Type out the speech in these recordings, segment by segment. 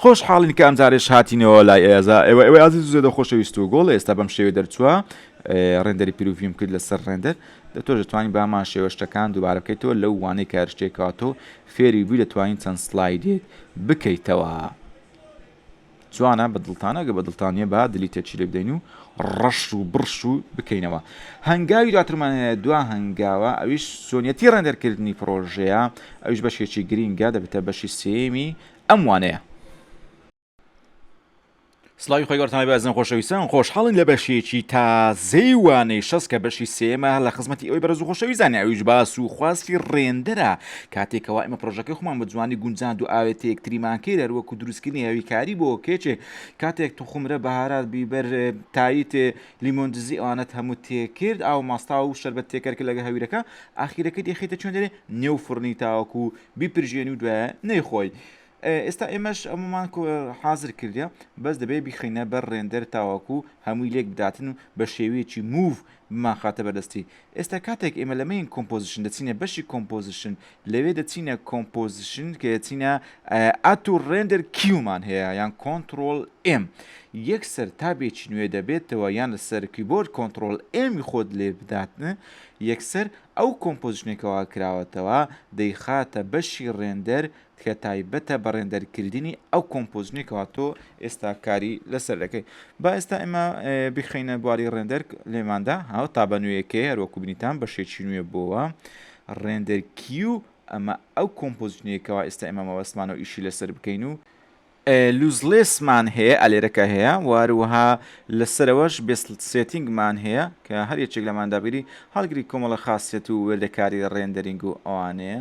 خۆش حاڵین کە ئەمجارێش هاتینەوە لای ئێزا ئێوە ئێوە ئازی زێدە خۆشەویست و گۆڵ ئێستا بەم شێوێ دەرچووە ڕێندەری پیرروڤیم کرد لەسەر ڕێندەر دەتۆ دەتوانین بامان شێوە شتەکان دووبارە بکەیتەوە لەو وانەی کارشتێکاتۆ فێری بووی دەتوانین چەند سلایدێک بکەیتەوە. جوانە بە دڵتانە گە بە دڵتان نیە با دلی تێ چیلێ بدەین و ڕەش و بڕش و بکەینەوە هەنگاوی دواترمان هەیە دوا هەنگاوە ئەویش سۆنیەتی ڕێندەرکردنی پرۆژەیە ئەوش بەشێکی گرینگە دەبێتە بەشی سێمی ئەم وانەیە سلاوی خۆی گەورتانە بەزن خۆشەویستان خۆشحاڵین لە بەشێکی تازەی وانەی شەست کە بەشی سێمە لە خزمەتی ئەوی بەرز و خۆشەویزانانی ئەویش باس و خواستی ڕێندرە کاتێک کەوا ئێمە پرۆژەکەی خۆمان بە جوانی گونجاند و ئاوێتە یەکتریمان کرد هەروەکو دروستکردنی هەویکاری بۆ کێچێ کاتێک توخمرە بەهارات بیبەر تایت لیمۆن دزی ئەوانەت هەموو تێکرد ئاو ماستا و شربەت تێکەر کە لەگە هەویرەکە ئاخیرەکە دێخیتە چۆن دەێ نێو فڕنی تاوەکو بیپرژێنی و دوایە نەیخۆی ئێستا ئێمەش ئەمەمان حازر کردە بەس دەبێ بیخینە بەر ڕێندەر تاواکو هەمووی لێک بداتن و بە شێوەیەکی موو بمانخاتە بەردەستی ئێستا کاتێک ئێمە لەمەین کۆمپۆزیشن دەچینە بەشی کۆمپۆزیشن لەوێ دەچینە کۆمپۆزیشن کە دەچینە ئات و ڕێندەر کیومان هەیە یان کۆنتترۆل ئێم یەک سەر تابێکی نوێ دەبێتەوە یان لەسەر کیبۆرد کۆنتترۆل ئێمی خۆت لێ بداتن یەکسەر ئەو کۆمپۆزیشنێکەوە کراوەتەوە دەیخاتە بەشی ڕێندەر کە تایبەتە بە ڕێندەر کردنی ئەو کۆمپۆزنی کەوا تۆ ئێستا کاری لەسەر دەکەی با ئێستا ئێمە بخینە بواری ڕێندەر لێماندا هاو تا بە نوێیەکەی هەروەکو بنیتان بە شێکی نوێ بۆوە ڕێندەر کیو ئەمە ئەو کۆمپۆزنیەکەەوە ئێستا ئێمە مەوەستمانە و ئیشی لەسەر بکەین و لوزلێسمان هەیە ئەلێرەکە هەیە واروها لەسەرەوەش بێسلت سێتینگمان هەیە کە هەر یەکێک لەماندابیری هەڵگری کۆمەڵە خاصێت و وێردەکاری ڕێندەرینگ و ئەوانەیە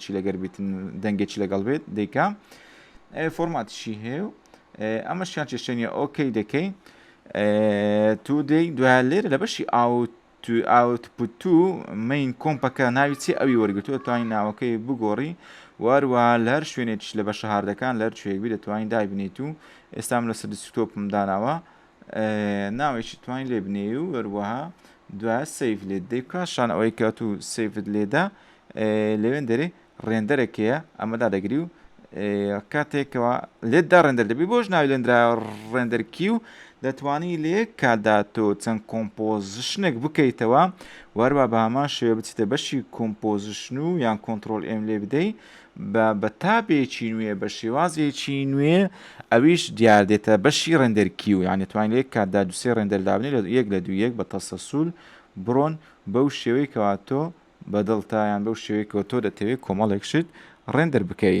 چی لەگەر بیتن دەنگێکی لەگەڵ بێت دیکە فۆرماتشی هەیە و ئەمە شیان چێشتێنە ئۆکەی دەکەی تو دەی دوای لێرە لە بەشی ئاوت ئاوتپوتو مین کۆمپەکە ناوی چی ئەوی وەرگتووە توانین ناوەکەی بگۆڕی واروە لەر شوێنێکش لە بە شەهاردەکان لەر شوێکبی دەتوانین دابنیت و ئێستام لە سەر دیسکتۆپم داناوە ناوێکی توانی لێ بنێی و وەروەها دوای سیف لێت دەی کاشان ئەوەی کات و سیفت لێدا لەوێن دەری ڕێندەرێکەیە ئەمەدا دەگری و کاتێکەوە لێتدا ڕێندەر دەبی بۆش ناوی لێندرا ڕێندەرکی و دەتوانی لێ کادا تۆ چەند کۆمپۆزیشنێک بکەیتەوە وەروە بە هەمان شێوە بچیتە بەشی کۆمپۆزیشن و یان کۆنتترۆل ئێم لێ بدەیت بە بە تابێکی نوێ بە شێوازێکی نوێ ئەویش دیار دێتە بەشی ڕێندەر کیو یان دەتوانین لە یەک کاتدا دوسێ ڕێندەر دابنێ لە یەک لە دوو یەک بە تەسەسول بڕۆن بەو شێوەی کەوا تۆ بەدڵتا یان بەو شێوەی کەوە تۆ دەتەوێت کۆمەڵێک شت ڕێندەر بکەی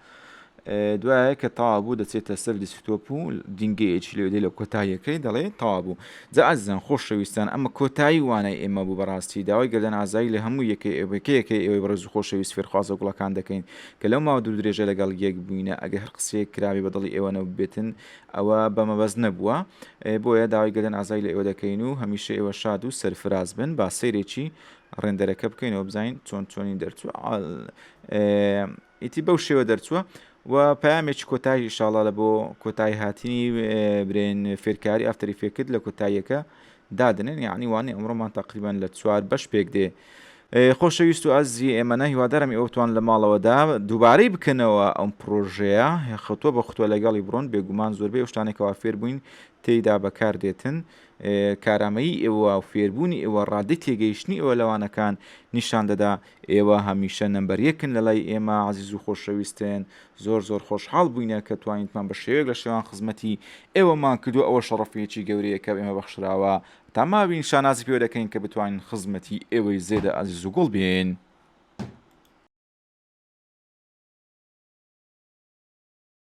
دوایە کە تاوابوو دەچێتە سەر دیسکتۆپ و دینگەیەکی لێدەی لە کۆتاییەکەی دەڵێ تاوابوو جا ئازیزان خۆشەویستان ئەمە کۆتایی وانای ئێمە بوو بەڕاستی داوای گەردەن ئازایی لە هەموو یەکەی ئێوەکەیەکەی ئێوەی بەڕێز و خۆشەویست فێرخوازە گوڵەکان دەکەین کە لەو ماوە دوور درێژە لەگەڵ یەک بووینە ئەگەر هەر قسەیەک کرابێ بە دڵی ئێوە نەبووبێتن ئەوە بە مەبەست نەبووە بۆیە داوای گەردەن ئازایی لە ئێوە دەکەین و هەمیشە ئێوە شاد و سەرفراز بن با سەیرێکی ڕێندەرەکە بکەینەوە بزانین چۆن چۆنی دەرچوو ئیتی بەو شێوە دەرچووە و پامێکی کۆتایی ئیشاڵا لە بۆ کۆتایی هاتنی برێن فێرکاری ئەفتری فێکرد لە کۆتاییەکە دادنێن یعنی وانێ ئەمڕۆمان تقریبان لە چوار بەش پێک دێ. خۆشەویست و ئازی ئێمەە هیوادارم ئەوتوان لە ماڵەوەدا دووبارەی بکەنەوە ئەم پرۆژەیە خەتوە بە خوتوە لەگەڵی بڕۆن بێگومان زۆربەی شتانێکەوە فێر بووین تێیدا بەکار دێتن کارامەیی ئێوە و فێربوونی ئێوە ڕادی تێگەیشتنی ئەوە لەوانەکان نیشان دەدا ئێوە هەمیشە نەمبەر یەکن لەلای ئێمە عەزیزو خۆشەویستن زۆر زۆر خۆشحاڵ بووینە کە توانیتمان بە شێوەیەک لە شێوان خزمەتی ئێوەمان کردووە ئەوە شەڕەفیەکی گەورەیە کە ئێمە بەخشراوە تا ماوین شانازی پێوە دەکەین کە بتوانین خزمەتی ئێوەی زێدە ئازیز و گوڵ بین.